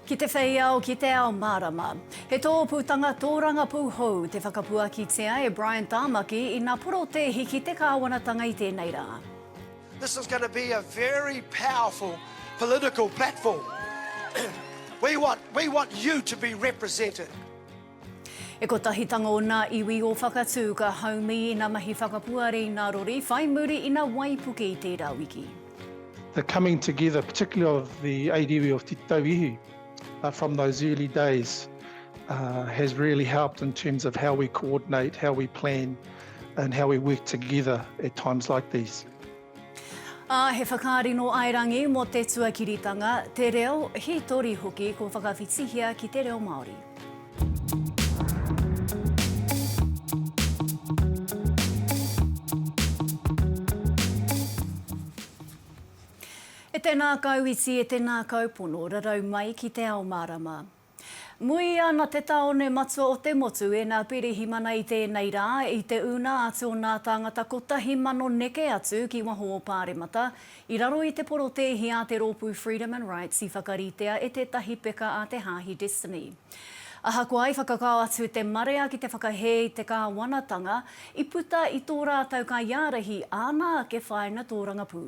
Ki te whei ao, ki te ao mārama. He tōpūtanga tōrangapū hou te whakapuakitia e Brian Tāmaki i nā porotēhi ki te kāwanatanga i tēnei rā. This is going to be a very powerful political platform. We want, we want you to be represented. He kotahitanga o nā iwi o Whakatū ka haumi ina mahi whakapuare i nā rori, whai muri i nā waipuke i tērā wiki. The coming together, particularly of the eight iwi of Te Tauihi from those early days has really helped in terms of how we coordinate, how we plan and how we work together at times like these. Ā, he whakaari nō Aerangi mō te tuakiritanga, te reo, hītori hoki kua whakawhitihia ki te reo Māori. E tēnā kau iti, e tēnā kau pono, rarau mai ki te ao mārama. Muia na te taone matua o te motu e na Pirihimana i tenei ra, i te una atu o na tangata kotahi mano neke atu ki waho o Paremata, i raro i te porotehi a te ropu Freedom and Rights i whakaritea e tetahi peka a te Hahi Destiny. Ahakoa i whakakao atu te marea ki te whakahe i te kawanatanga, i puta i to ratou kaiarahi ana ake whaina torangapū.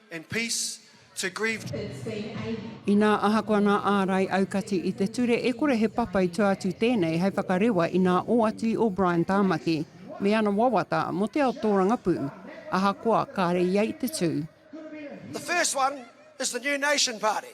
and peace to grieved. Inā ahakoa nā ārai aukati i te ture e kore he papai tua atu tēnei hei whakarewa i nā oati i O'Brien Tāmaki me ana wawata mō te ao tōrangapū ahakoa kāre ia i te tū. The first one is the New Nation Party.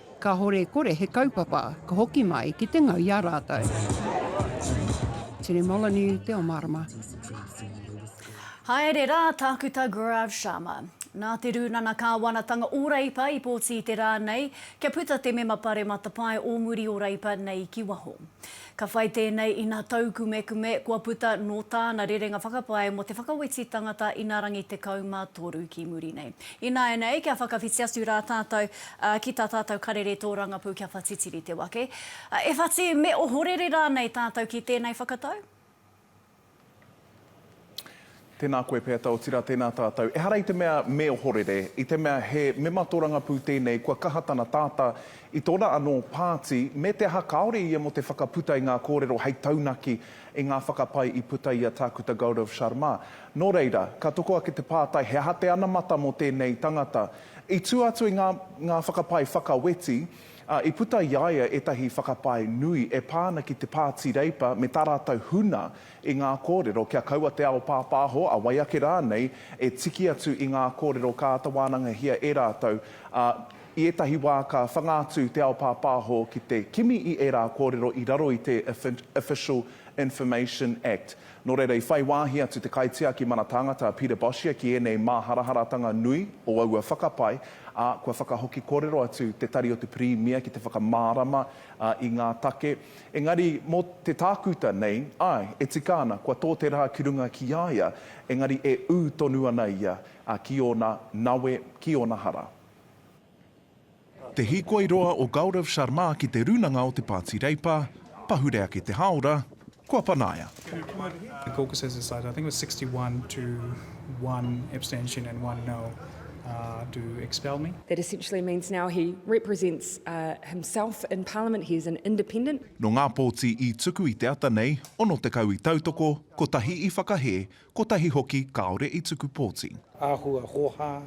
Kahore kore he kaupapa ka hoki mai ki te ngau i a ratou. Tene Moloney, Te O Marama. Haere rā, Tākuta Gaurav Sharma. Nā te Rūnana Kāwanatanga o Reipa i pōti i te rā nei kia puta te Mema Pare Matapae o muri o Reipa nei ki waho. Ka whai tēnei ina taukumekume kua puta nō tāna rerenga whakapae mō te whakaweti tangata ina rangi 13 ki muri nei. Ināianei, kia whakawhiti atu rā tātou ki tā tātou karere tōrangapū kia whatitiri te wake. E whati, me ohorere rānei tātou ki tēnei whakatau? Tēnā koe pea, Taotira, tēnā tātou. Ehara i te mea me ohorere, i te mea he mema tōrangapū tēnei kua kaha tana tātā i tōna anō pāti me te aha kāore ia mō te whakaputa i ngā kōrero hei taunaki i ngā whakapae i puta i a Tākuta Gaurav Sharma. Nō reira, ka toko ake te pātai he aha te anamata mō tēnei tangata. I tua atu i ngā ngā whakapae whakaweti, ā, i puta i a ia ētahi whakapae nui e pā ana ki te Pāti Reipa me tā rātou huna i ngā kōrero kia kaua te ao pāpāho, a wai ake rānei, e tiki atu i ngā kōrero ka āta wānangahia e rātou, ā, i ētahi wā ka whanga atu te ao pāpāho ki te kimi i ērā kōrero i raro i te Official Information Act. Nō reira, i whai wāhi atu te kaitiaki mana tāngata a Peter Boshier ki ēnei māharaharatanga nui o aua whakapae, ā, kua whakahoki kōrero atu te Tari o te Pirimia ki te whakamārama i ngā take. Engari, mō te tākuta nei, āe, e tika ana, kua tō te rā ki runga ki a ia, engari e ū tonu ana ia ki ōna nawe, ki ōna hara. Te hīkoi roa o Gaurav Sharma ki te rūnanga o te Pāti Reipa, pahure ake te hāora, kua panaia. Nō ngā pōti i tuku i te ata nei, 60 i tautoko, kotahi i whakahē, Kotahi hoki kāore i tuku pōti. Āhua hōhā,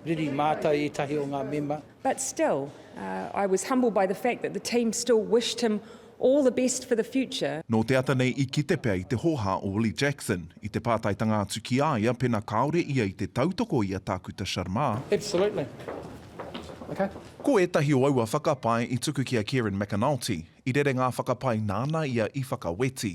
riri mātau ētahi o ngā mema. But still, I was humbled by the fact that the team still wished him all the best for the future. Nō te ata nei i kite pea i te hōhā o Willie Jackson i te pātaitanga atu ki a ia pēnā kāore ia i te tautoko i a Tākuta Sharma. Absolutely. Okay. Ko ētahi o aua whakapae i tuku ki a Kieran McAnulty, i rerenga whakapae nāna ia i whakaweti.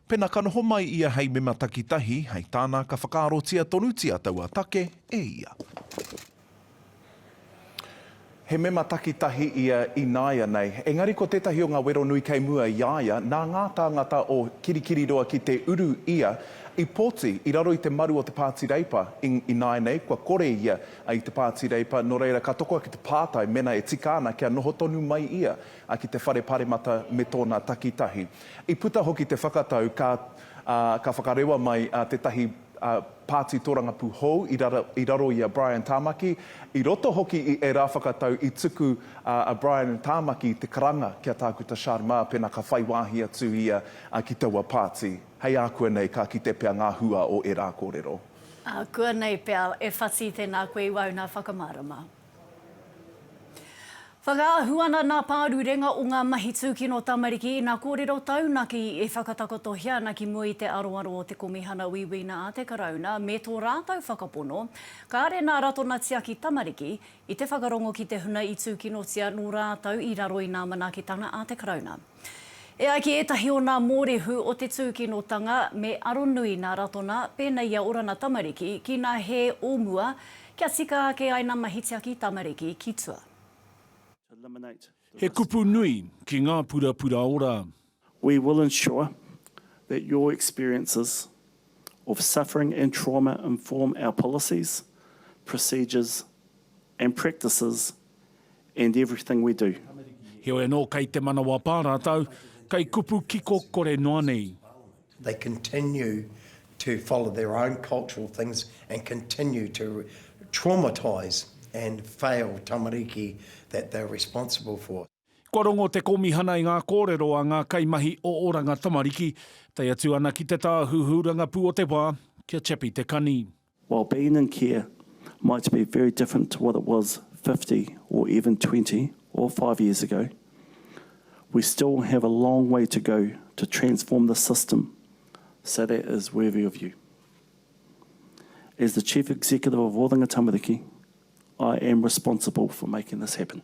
Pena ka noho mai ia hei mema takitahi, hei tāna ka whakaarotia tonutia taua take e ia. He mema takitahi ia ināianei, engari ko tētahi o ngā wero nui kei mua i a ia, nā ngā tāngata o Kirikiriroa ki te uru ia i poti i raro i te maru o te Pāti Reipa, ināianei kua kore ia i te Pāti Reipa, nō reira ka toko ake te pātai mena e tika ana kia noho tonu mai ia ki te Whare Paremata me tōna takitahi. I puta hoki te whakatau ka ka whakarewa mai tētahi pāti tōrangapū hou i raro i a Brian Tāmaki, i roto hoki i ērā whakatau i tuku a Brian Tāmaki te karanga ki a Tākuta Sharma pēnā ka whai wāhi atu ia ki taua pāti. Hei ākuanei ka kite pea ngā hua o ērā kōrero. Ākuanei pea e whati tēnā koe i waho nā whakamārama. Whakaahu ana ngā pārurenga o ngā mahi tūkino tamariki ina kōrero taunaki e whakatakotohia ana ki mua i te aroaro o te Komihana Uiuina a te Karauna me tō rātou whakapono, kāre ngā ratona tiaki tamariki, i te whakarongo ki te huna i tūkinotia nō rātou i raro i ngā manaketanga a te Karauna. E ai ki ētahi o nā mōrehu o te tūkinotanga, me aronui nā Ratona, pēnei i a Orana tamariki, ki nā Hē o mua, kia tika ake ai nā Mahitiaki tamariki ki tua. He kupu nui ki ngā purapura ora. We will ensure that your experiences of suffering and trauma inform our policies, procedures and practices and everything we do. Heoi anō kei te manawa pā rātou, kei kupu kiko kore noa nei. They continue to follow their own cultural things and continue to traumatise and fail tamariki that they're responsible for. Kua rongo te Kōmihana i ngā kōrero a ngā kaimahi o Oranga Tamariki, tae atu ana ki te tāhuhu rangapū o te wā, kia chappy te kani. While being in care might be very different to what it was fifty or even twenty or five years ago, we still have a long way to go to transform the system so that is worthy of you. As the Chief Executive of Oranga Tamariki, I am responsible for making this happen.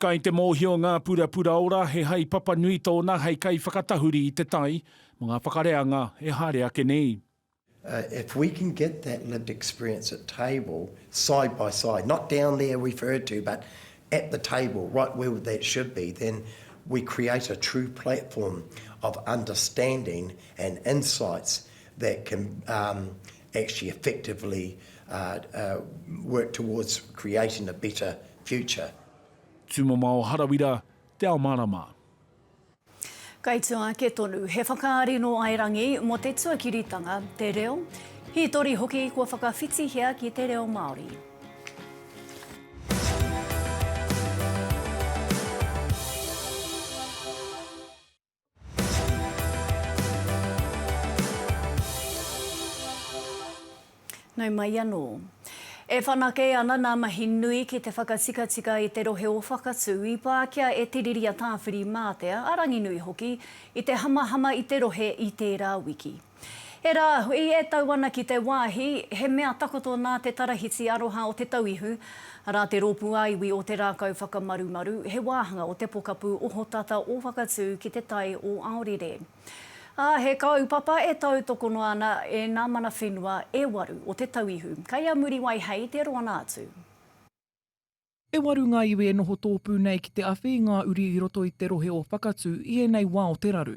Kai te mōhio ngā purapura ora he haepapa nui tōna hei kaiwhakatahuri i te tai mō ngā whakareanga e haere ake nei. If we can get that lived experience at table, side by side, not down there referred to but at the table, right where that should be, then we create a true platform of understanding and insights that can actually effectively work towards creating a better future. Tūmamao Harawira, Te Ao Mārama. Kaitua ake tonu, he whakaari nō Airangi mō te tuakiritanga, te reo, hītori hoki kua whakawhitihia ki te reo Māori. Nau mai anō. E whanake ana nā mahi nui ki te whakatikatika i te rohe o Whakatū i Pākia e Tiriri a Tāwhiri Mātea, a Ranginui hoki, i te hamahama i te rohe i tērā wiki. Era, i e tau ana ki te wahi, he mea takoto nā te Tarahiti Aroha o Te Tauihu, arā te Rōpū ā-Iwi o Te Rākau Whakamarumaru, he wāhanga o te pokapū ohotata o Whakatū ki te Tai o Aorere. Ā, he kaupapa e tautoko noa ana e ngā mana whenua e waru o Te Tauihu, kei a Muriwai hei te roanga atu. E waru ngā iwi e noho tōpū nei ki te awhi i ngā uri i roto i te rohe o Whakatū i ēnei wā o te raru.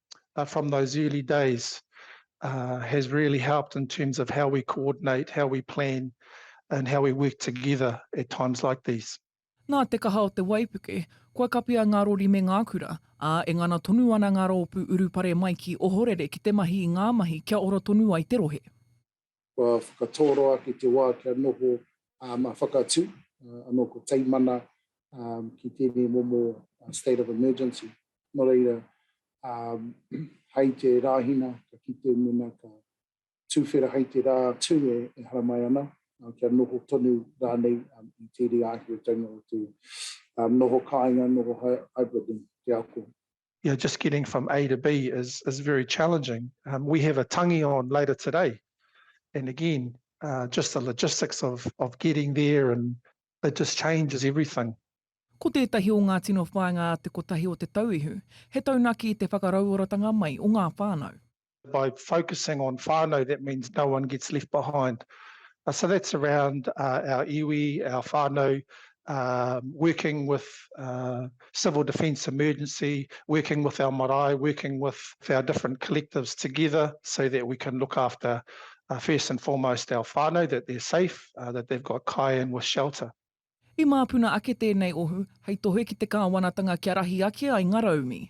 uh, from those early days uh, has really helped in terms of how we coordinate, how we plan, and how we work together at times like these. Nā te kaha o te waipuke, kua kapia ngā rori me ngā kura, ā, e ngana tonu ana ngā rōpū urupare mai ki Ohorere ki te mahi i ngā mahi kia ora tonu ai te rohe. kua whakatōroa ki te wā kia noho mā whakatū anō ko Teimana ki tēnei momo state of emergency. Nō reira, hai te Rāhina ka kite mēnā ka tūwhera hai te rā tū e haramai ana, kia noho tonu rānei i tēnei āheuteina o te noho kāinga, noho hybrid i te ako. you know, just getting from A to B is, is very challenging. Um, we have a tangi on later today. And again, uh, just the logistics of, of getting there and it just changes everything. Ko tētahi o ngā tino whāinga a te kotahi o Te Tauihu, he taunaki i te whakarauoratanga mai o ngā whānau. by focusing on whānau, that means no one gets left behind. So that's around our iwi, our whānau, working with civil defence emergency, working with our marae, working with our different collectives together so that we can look after, first and foremost, our whānau, that they're safe, that they've got kai and with shelter. I māpuna ake tēnei ohu hei tohe ki te kāwanatanga kia rahi ake ai ngā raumi.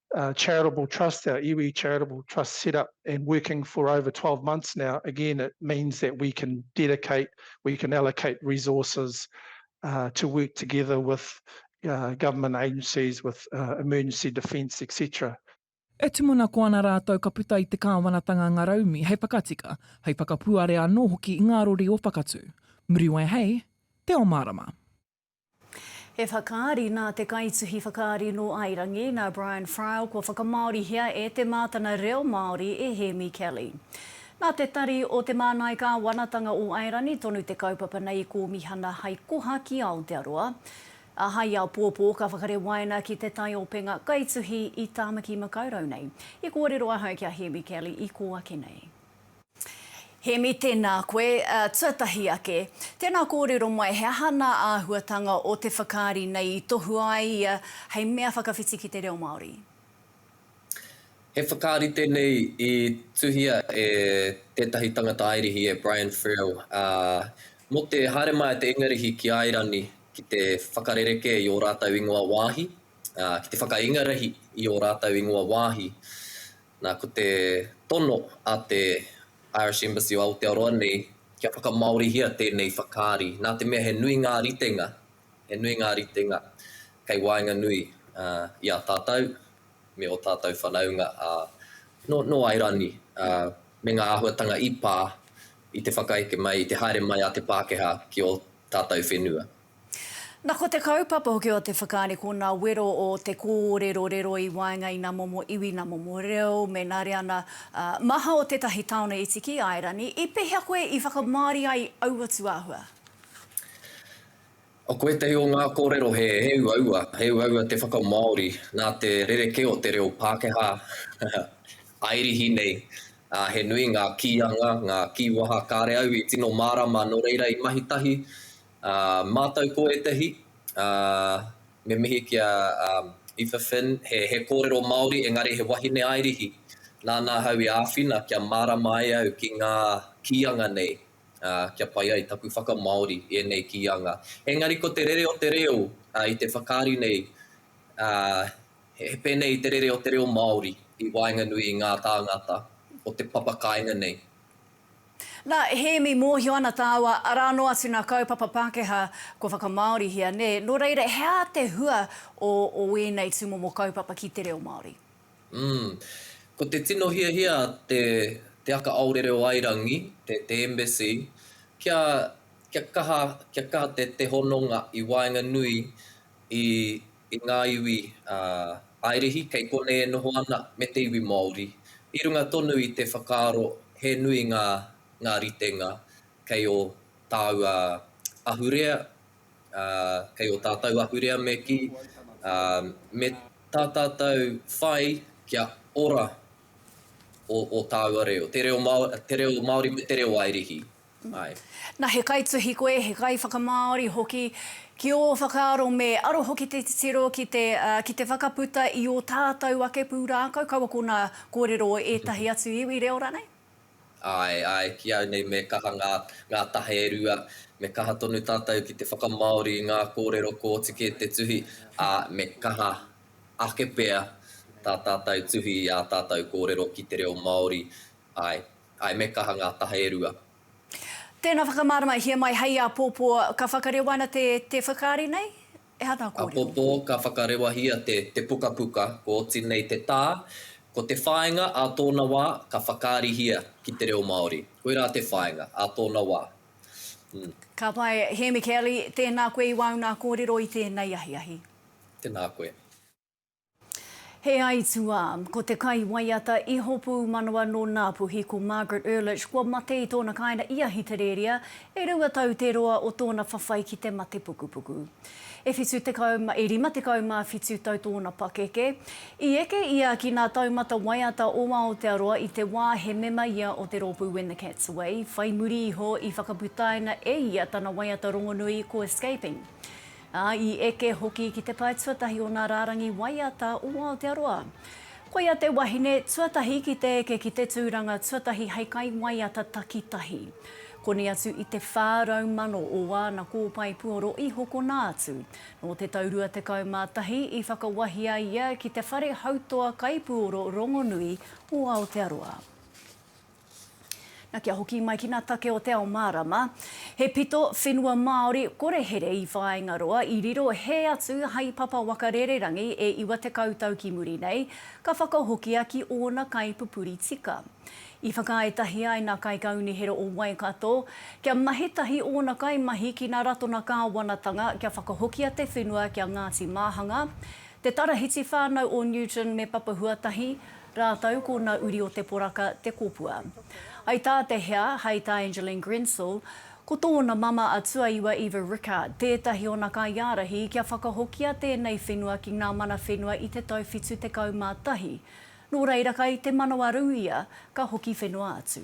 uh, charitable trust, our iwi charitable trust set up and working for over 12 months now, again, it means that we can dedicate, we can allocate resources uh, to work together with uh, government agencies, with uh, emergency defence, etc. E tumuna ko ana rātou ka puta i te kāwanatanga ngaraumi hei whakatika, hei whakapuare anō hoki i ngā rori o Whakatū. Muriwai hei, Te Omarama. He whakaari nā te kaituhi whakaari nō Airangi, nā Brian Friel kua whakamāorihia e Te Mātana Reo Māori e Hēmi Kelly. Nā te Tari o Te Māngai Kāwanatanga o Airani tonu te kaupapa nei i kōmihana hai koha ki Aotearoa, ā, hai aopōpō ka whakarewaina ki te taiopenga kaituhi i Tāmaki Makaurau nei. I kōrero ahau ki a Hēmi Kelly i kō ake nei. Hēmi, Tēnā koe. Tuatahi ake, tēnā kōrero mai he aha nā āhuatanga o te whakaari nei i tohua ai ia hei mea whakawhiti ki te reo Māori? He whakaari tēnei i tuhia e tētahi tangata Airihi, e Brian Friel, ā, mō te haere mai a te Ingarihi ki Airani ki te whakarerekē i ō rātou ingoa wāhi, ā, ki te whakaingarihi i ō rātou ingoa wāhi. Nā, ko te tono a te Irish Embassy o Aotearoa nei, kia whakamāorihia tēnei whakaari, nā te mea he nui ngā ritenga, he nui ngā ritenga kei waenganui i a tātou me ō tātou whanaunga nō Airani, me ngā āhuatanga i pā i te whakaeke mai, i te haere mai a te Pākehā ki ō tātou whenua. Na ko te kaupapa hoki o te whakaari ko na wero o te korero rero i waenga i na momo iwi, na momo reo, me na reana maha o tetahi taone iti ki Aerani. I pehea koe i whakamaori ai aua tuahua? Ko etahi o nga korero he uaua, he uaua te whakamaori na te rereke o te reo Pakeha Airihi nei. He nui nga kianga, nga kiwaha kare au i tino marama no reira i mahi tahi A mātou ko ētahi, a, me mihi ki a, a, Aoife Finn, he, he kōrero Māori engari he wahine airihi. Nāna ahau i āwhina kia mārama ai au ki ngā kīanga nei, a, kia pai ai taku whakamāori i ēnei kīanga. Engari ko te rere o te reo, a, i te whakaari nei, a, he, he pēnei te rere o te reo Māori i waenganui i ngā tāngata o te papakāinga nei. Nā, Hēmi, mōhio ana tāua, arā noa atu nā kaupapa Pākehā kua whakamāorihia, nē, nō reira, he aha te hua o, o ēnei tūmomo kaupapa ki te reo Māori? Umm. Ko te tino hiahia a te, te Aka Aore Reo Airangi, te, te Embassy, kia, kia kaha, kia kaha te, te hononga i waenganui i, i ngā iwi a Airihi kei konei e noho ana me te iwi Māori, i runga tonu i te whakaaro he nui ngā ngā ritenga kei ō tāua ahurea, ā, kei ō tātou ahurea me kī, ā, me tā tātou whai kia ora ō ō tāua reo, te reo Māori me te reo Airihi. mai. Na, he kaituhi koe, he kaiwhakamāori hoki, ki ō whakaaro me aro hoki te titiro ki te, ki te whakaputa i ō tātou ake pūrākau, kaua ko ngā kōrero o ētahi atu iwi reo rānei? Āe, āe, ki au nei me kaha ngā, ngā taha e rua, me kaha tonu tātou ki te whakamāori i ngā kōrero kua oti kē te tuhi, ā, me kaha ake pea tā tātou tuhi i ā tātou kōrero ki te reo Māori, āe. Ae, me kaha nga taha e rua. Tena whakamaramahia mai hei apopo ka whakarewa ana te te whakaari nei? He aha nga korero? Apopo ka whakarewahia te te pukapuka kua oti nei te ta, ko te whainga a tona wa ka whakaarihia ki te reo Maori. Koira te whainga a tona wa. Umm. Ka pai, Hemi Kelly, tēnā koe i wāu nā kōrero i tēnei ahiahi. Tēnā koe. He aituā, ko te kaiwaiata Iho Pūmanawa nō Ngāpuhi ko Margaret Ehrlich kua mate i tōna kāinga i Ahitereria e rua tau te roa o tōna whawhai ki te mate pukupuku. E 77 tau tōna pakeke. I eke ia ki ngā taumata waiata o Aotearoa i te wā he mema ia o te rōpū When the Cat's Away, whai muri iho i whakaputaina e ia tana waiata rongonui ko Escaping. ā, i eke hoki ki te pae tuatahi o ngā rārangi waiata o Aotearoa. Koia te wahine tuatahi ki te eke ki te tūranga tuatahi hei kaiwaiata takitahi. Koni atu i te 400 o āna kōpae puoro i hokona atu. Nō te tau 21 i whakawahia ia ki te whare hautoa kaipuoro rongonui o Aotearoa. Na kia hoki mai ki nga take o Te Ao Marama, he pito whenua Maori kore here i Whāingaroa i riro he atu hai papa waka rererangi e iwa tekau tau ki muri nei, ka whakahokia ki ōna kaipupuri tika. I whakaae tahi ai nga kaikaunihera o Waikato kia mahi tahi ōna kaimahi ki nga ratona kāwanatanga kia whakahokia te whenua ki a Ngāti Māhanga, Te Tarahiti whānau o Newton me Papahuatahi, Rātou ko na uri o te poraka te kopua. Hai tā te hea, hai tā Angeline Grensel, ko tōna mama a Tuaiwa Eva Rickard tētahi o na kaiārahi kia whakahokia tēnei whenua ki ngā mana whenua i te tau 71. Nō reira kai te manawarū ia ka hoki whenua atu.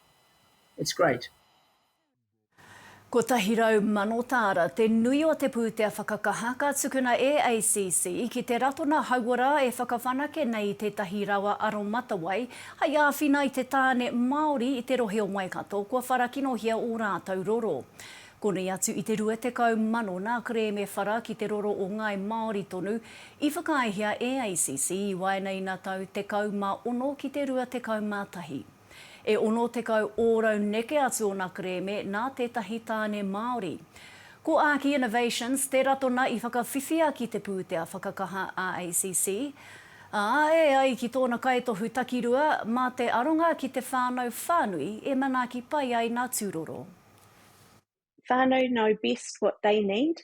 It's great. 100 mano tāra te nui o te pūtea whakakaha ka tukuna e ACC ki te Ratona Hauora e whakawhanake nei i tētahi rawa aromatawai hai āwhina i te tāne Māori i te rohe o Waikato kua wharakinohia ō rātou roro. Konei atu i te 20 mano nā kerēme whara ki te roro o ngāi Māori tonu i whakaaehia e ACC i waenei nā tau 16 ki te 21. E 60 ōrau neke atu ōna kerēme nā tētahi tāne Māori. Ko Āki Innovations te ratona i whakawhiwhia ki te pūtea whakakaha AACC, ā, e ai ki tōna kaitohu takirua, mā te aronga ki te whānau whānui e manaaki pai ai nā tūroro. Whānau know best what they need,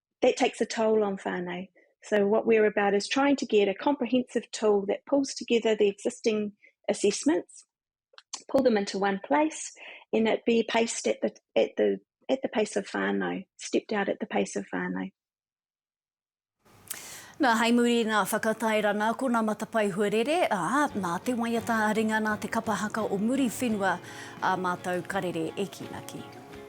that takes a toll on whānau. So what we're about is trying to get a comprehensive tool that pulls together the existing assessments, pull them into one place, and it be paced at the, at the, at the pace of whānau, stepped out at the pace of whānau. Nā, hei muri i ngā whakatairanga, ko nā Matapae Huarere, ā, nā te waiata a ringa, nā te kapa haka o muri whenua ā mātou karere e kīnaki.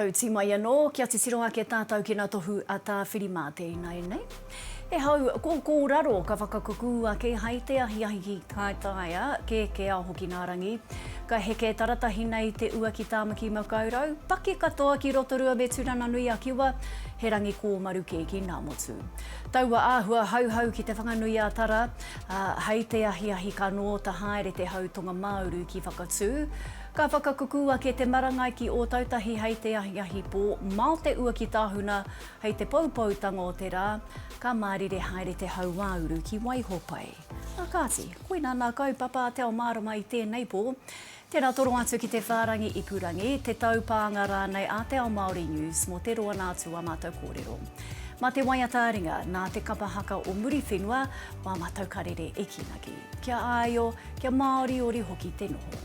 Tau ti mai anō, kia titiro ake tātou ki ngā tohu a Tāwhiri-mātea ināianei. He hau kōkōraro ka whakakukū ake hai te ahiahi ki Kaitaia, kē kē a Hokinaarangi. Ka heke taratahi nei te ua ki Tāmaki Makaurau, paki katoa ki Rotorua me Turanganui-a-Kiwa, he rangi kōmaru kē ki Ngāmotu. Taua āhua hauhau ki Te Whanganui-ā-Tara, Ā, hei te ahiahi ka nōta haere te hau tonga-mā-uru ki Whakatū. Ka whakakuku ake te marangai ki Ōtautahi hei te ahiahi pō, mao te ua ki Tāhuna hei te poupoutanga o te rā. Ka mārire haere te hau-ā-uru ki Waihopai. Ā kāti, koinā nā kaupapa a Te Ao Mārama i tēnei pō. Tēnā toro atu ki te whārangi ipurangi, te taupānga rānei a Te Ao Māori News mō te roa nā atu ā mātou kōrero. Mā te waiata a ringa, nā te kapa haka o Muriwhenua, mā mātou karere e kīnaki. Kia āio, kia māoriori hoki te noho.